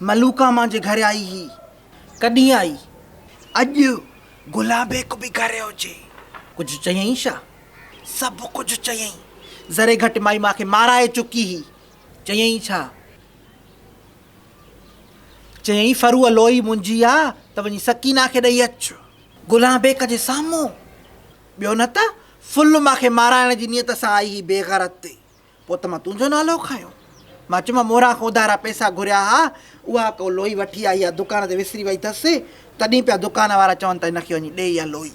ملوڪا مانجهه گهر آئي هي ڪڏهن آئي اڄ گلابيڪ به گهر هجي. ڪجهه چيئين شا؟ سڀ ڪجهه چيئين ذري گهٽ مائي مان کي مارائي چڪي هي چيئين ڇا؟ چيئين ڦروء لوئي منهنجي آ ته وڃي سڪينه کي ڏئي اچ گلابيڪ جي سامهون ٻيو نه ته ڦل مان کي مارائڻ جي نيت سان آئي هي بيغرت. پوء ته مان تنهنجو نالو کنيو. مان چيومانس موران کان اڌارا پئسا گهريا ها، اها ڪو لوئي وٺي آئي آ، دڪان تي وسري وئي اٿس، تڏهن پيا دڪان وارا چون ته هن کي وڃي ڏي اها لوئي.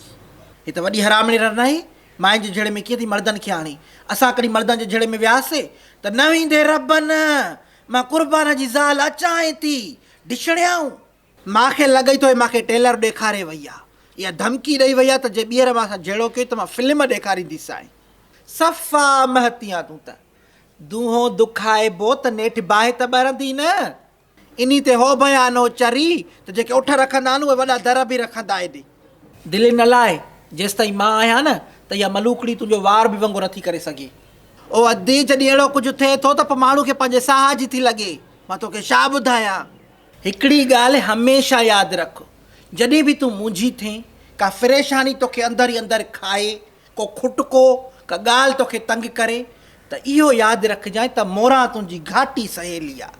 هي ته وڏي حرامڙي رڙ ناهي، ماين جي جهيڙي ۾ ڪيئن ٿي مردن کي آڻي. اسان ڪڏهن مردن جي جهيڙي ۾ وياسين ته نه ويندي ربن مان قربان جي زال اچانء ٿي ڊشڙيائون. مان کي لڳئي ٿو هي مان کي ٽيلر ڏيکاري وئي آ يا ڌمڪي ڏئي وئي آ ته جي ٻيهر مان سان جهيڙو ڪيو ته مان فلم ڏيکارينديسانء. صفا مهتي آن تون ته. دونهو دکائبو ته نيٺ باهه ته ٻرندي نه. انهي تي هو بيان هو چري ته جيڪي اٺ رکندا آهن اهي وڏا در به رکندا ايڏي. دلين نه لاء جيستائين مان آهيان نه ته اها ملوڪڙي تنهنجو وار به ونگو نٿي ڪري سگهي. او ادي جڏهن اهڙو ڪجهه ٿئي ٿو ته پوء ماڻهو کي پنهنجي ساهه جي ٿي لڳي. مان توکي ڇا ٻڌايان. هڪڙي ڳالهه هميشه ياد رک، جڏهن به تون مونجهي ٿين، ڪا پريشاني توکي اندر ئي اندر کائي، ڪو کٽڪو، ڪا ڳالهه توکي تنگ ڪري، ته اهو ياد رکجانء ته موران تنهنجي گهاٽي سهيلي آ.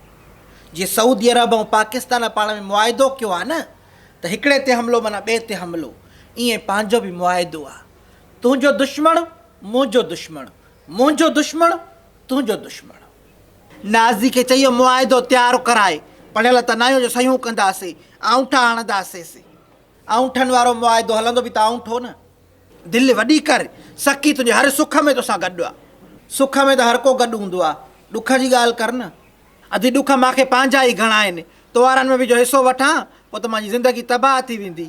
جي سعودي عرب ۽ پاڪستان پاڻ ۾ معاهدو ڪيو آ نه ته هڪڙي تي حملو معنيٰ ٻئي تي حملو، ايئن پنهنجو به معاهدو آ. تنهنجو دشمڻ منهنجو دشمڻ، منهنجو دشمڻ تنهنجو دشمڻ. نازي کي چيو معاهدو تيار ڪرائي، پڙهيل ته ناهيو جو صحيحون ڪنداسي، آڱٺا هڻنداسيسي. آڱٺن وارو معاهدو هلندو به ته آڱٺو نه. دل وڏي ڪر، سخي تنهنجي هر سک ۾ توسان گڏ آ. سک ۾ ته هر ڪو گڏ هوندو آ، ڏک جي ڳالهه ڪر نه. ادي ڏک مانکي پنهنجا ئي گهڻا آهن، توهارن ۾ به جو حصو وٺان، پوء ته مانجي زندگي تباهه ٿي ويندي.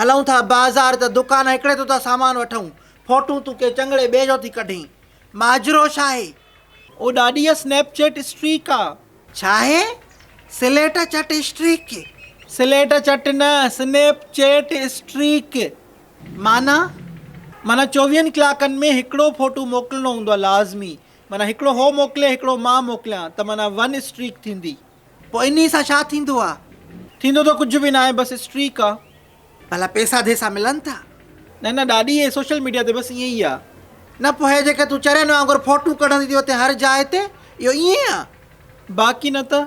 هلئون ٿا بازار ته دڪان هڪڙي تون ٿا سامان وٺئون فوٽون تون ڪنهن چڱڙي ٻئي جو ٿي ڪڍين ماجرو ڇاهي؟ او ڏاڏي اسنيپ چيٽ اسٽريڪ آ. ڇاهي؟ سليٽ چٽ اسٽريڪ. سليٽ چٽ نه سنيپ چيٽ اسٽريڪ. معنيٰ؟ معنيٰ چوويهن ڪلاڪن ۾ هڪڙو فوٽو موڪلڻو هوندو آ لازمي معنيٰ هڪڙو هو موڪلي هڪڙو مان موڪليان ته معنيٰ ون اسٽريڪ ٿيندي. پوء انهيء سان ڇا ٿيندو آ؟ ٿيندو ته ڪجهه به ناهي، بس اسٽريڪ آ. ڀلا پئسا ڌيسا ملن ٿا؟ نه نه ڏاڏي، هي سوشل ميڊيا تي بس ائين ئي آ. نه پوء هي جيڪي تون چرين وانگر فوٽون ڪڍندي ٿي اتي هر جاء تي اهو ائين آ؟ باقي نه ته.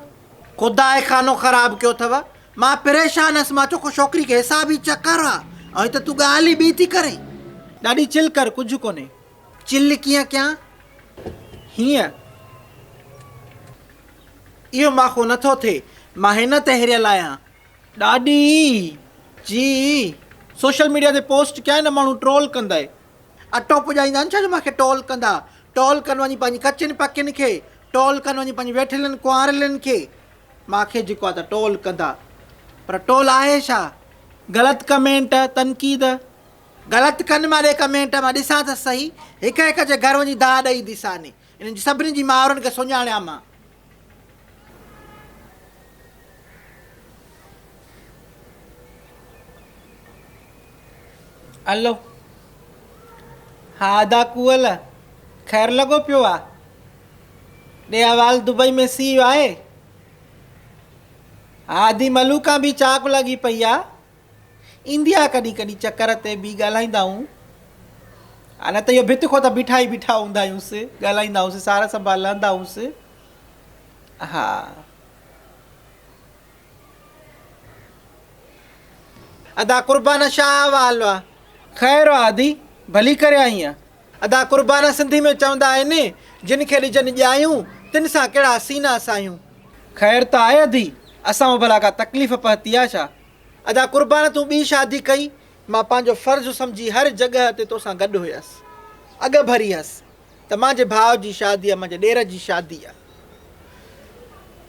خداء خانو خراب ڪيو اٿو. مان پريشان هيس، مان چيو ڪو ڇوڪري کي حسابي چڪر آ ۽ هتي تون ڳالهه ئي ٻي ٿي ڪرين. ڏاڏي چل ڪر، ڪجهه ڪونهي. چل ڪيئن ڪيان هينئن اهو ماخو نه ٿو ٿئي، مان هن تي هريل آهيان. ڏاڏي جي سوشل ميڊيا تي پوسٽ ڪيائين نه ماڻهو ٽرول ڪندئ. اٽو پڄائيندا آهن ڇا جو ماکي ٽول ڪندا. ٽول ڪن وڃي پنهنجي ڪچين پڪين کي، ٽول ڪن وڃي پنهنجي ويٺلين ڪنوارلين کي. ماکي جيڪو آهي ته ٽول ڪندا. پر ٽول آهي ڇا؟ غلط ڪمينٽ، تنقيد، غلط ڪن ماري ڪمينٽ مان ڏسان ته سهي هڪ هڪ جي گهر وڃي دانهن ڏئي ايندي ساني انهن جي سڀني جي مائرن کي سڃاڻيان مان. الو ها ادا ڪوئل خير لڳو پيو آ ڏي احوال دبئي ۾ سي آهي ها ادي ملوڪان به چاڪ لڳي پئي آ ايندي آ ڪڏھن ڪڏھن چڪر تي بي ڳالھائيندا ھون آ نه ته اھو ڀت کون ته بيٺا ئي بيٺا ھوندا آھيونس ڳالھائيندا ھونس سار سنڀال لھندا ھونس ھا ادا قربان شاھ احوال آ. خير آ ادي ڀلي ڪري آئين آ. ادا قربان سنڌي ۾ چوندا آھن جن کي ڏجن ڄايون تن سان ڪھڙا سينا ساھيون. خير ته آھي ادي اسان مان ڀلا ڪا تڪليف پھتي آ ڇا. ادا قربان تون ٻي شادي ڪئي مان پنهنجو فرض سمجهي هر جڳهه تي توسان گڏ هيس اڳ ڀري هيس ته مانجي ڀاء جي شادي مانجي ڏير جي شادي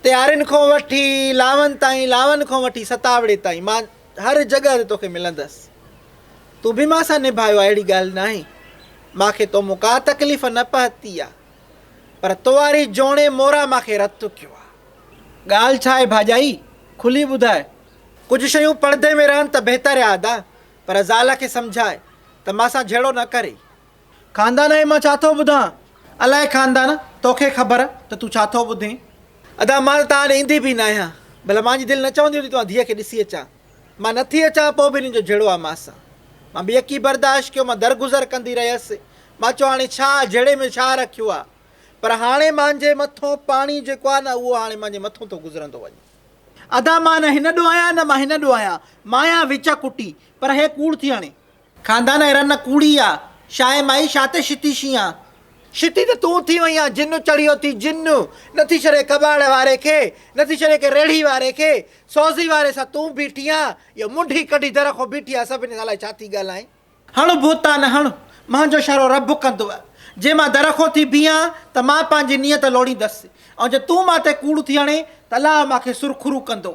تيارين کون وٺي لاون تائين لاون کون وٺي ستاوڙي تائين مان هر جڳهه تي توکي ملندس تون به مان سان نڀايو اهڙي ڳالهه ناهي مانکي تو مون ڪا تڪليف نه پهتي پر تو واري جوڻي مورا مان کي رت ٿڪيو آ. ڳالهه ڇا آهي ڀاڄائي؟ کلي ٻڌاء. ڪجهه شيون پڙدي ۾ رهن ته بهتر آ ادا. پر زال کي سمجهاء ته مان سان جهيڙو نه ڪري. خاندان ۾ مان ڇا ٿو ٻڌان؟ الاء خاندان، توکي خبر ته تون ڇا ٿو ٻڌين. ادا مان ته توهان ڏي ايندي به نه آهيان. ڀلا مانجي دل نه چوندي هوندي ته مان ڌيء کي ڏسي اچان. مان نه ٿي اچان پوء به هنن جو جهيڙو آ مان سان. مان بيڪي برداشت ڪيو مان درگذر ڪندي رهيس. مان چيو هاڻي ڇا جهيڙي ۾ ڇا رکيو آ پر هاڻي مانجهي مٿون پاڻي جيڪو آ نه اهو هاڻي مانجهي مٿون ٿو گذرندو وڃي. ادا مان نه هن ڏو آهيان نه مان هن ڏو آهيان مان آهيان وچ ڪٽي پر هي ڪوڙ ٿي هڻي. خاندان ايران نه ڪوڙي آ شاهي مائي شا تي شتي شين آ. شتي ته تون ٿي وئين آ جن چڙهيو ٿي جن نه ٿي ڇڏي ڪٻاڙ واري کي نه ٿي ڇڏي ڪنهن ريڙهي واري کي سوزي واري سان تون بيٺي آ اهو منڍي ڪڍي در کان بيٺي آ سڀني سان الائي ڇا ٿي ڳالهائين. هڻ بهتان هڻ، مان جو اشارو رب ڪندو، جي مان در کان ٿي بيهان ته مان پنهنجي نيت لوڙيندس، ۽ جي تون مان تي ڪوڙ ٿي هڻين ته الله مان کي سرخرو ڪندو.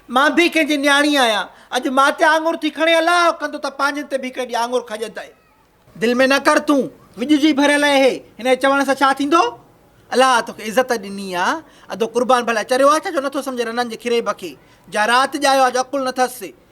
مان به ڪنهن جي نياڻي آهيان، اڄ مان تي آڱر ٿي کڻي الله ڪندو ته پنهنجن تي به هڪڙي ڏينهن آڱر کڄندئ. دل ۾ نه ڪر تون وڄ جي ڀريل اهي، هن جي چوڻ سان ڇا ٿيندو؟ الله توکي عزت ڏني آ، ادو قربان ڀلا چريو آ ڇا جو نٿو سمجهي رنن جي کريب کي، جا رات ڄايو آ جو عقل نٿس،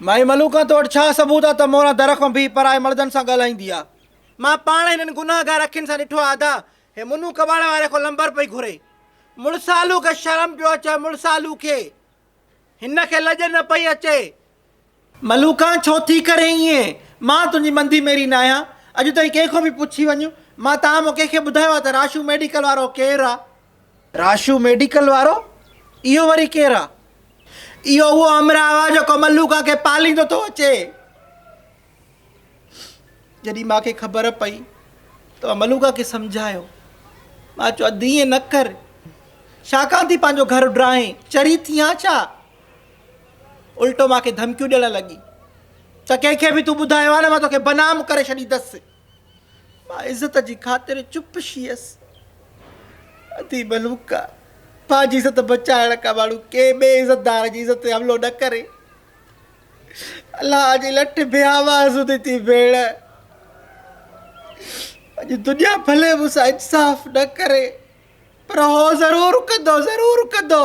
مائي ملوڪان تو وٽ ڇا ثبوت آ ته موران در کان بيهي پرائي مڙدن سان ڳالهائيندي آ. مان پاڻ هنن گنهگار اکين سان ڏٺو آ ادا، هي منو ڪٻاڙ واري کان لنبر پئي گهري. مڙسالو کي شرم پيو اچي مڙسالو کي. هن کي لڄ نه پئي اچي. ملوڪان ڇو ٿي ڪرين ائين. مان تنهنجي مندي ميري ناهيان. اڄ تائين ڪنهن کان به پڇي وڃ. مان تان مون ڪنهن کي ٻڌايو آ ته راشو ميڊيڪل وارو ڪير آ. راشو ميڊيڪل وارو اهو وري ڪير آ. اهو اهو همراهه آ جيڪو ملوڪا کي پاليندو ٿو اچي. جڏهن مان کي خبر پئي ته مان ملوڪا کي سمجهايو. مان چيو ادي ائين نه ڪر. ڇاڪاڻ ٿي پنهنجو گهر اڊرائين، چري ٿي آن ڇا؟ الٽو مان کي ڌمڪيون ڏيڻ لڳي ته ڪنهن کي به تون ٻڌايو آ نه مان توکي بنام ڪري ڇڏيندس. مان عزت جي خاطر چپ شيس. اٿي ملوڪا پنهنجي عزت بچائڻ کان ماڻهو ڪنهن ٻئي عزتدار جي عزت تي حملو نه ڪري. الله جي لٺ بي آواز هوندي ٿي ڀيڻ. اڄ دنيا ڀلي مون سان انصاف نه ڪري پر هو ضرور ڪندو ضرور ڪندو.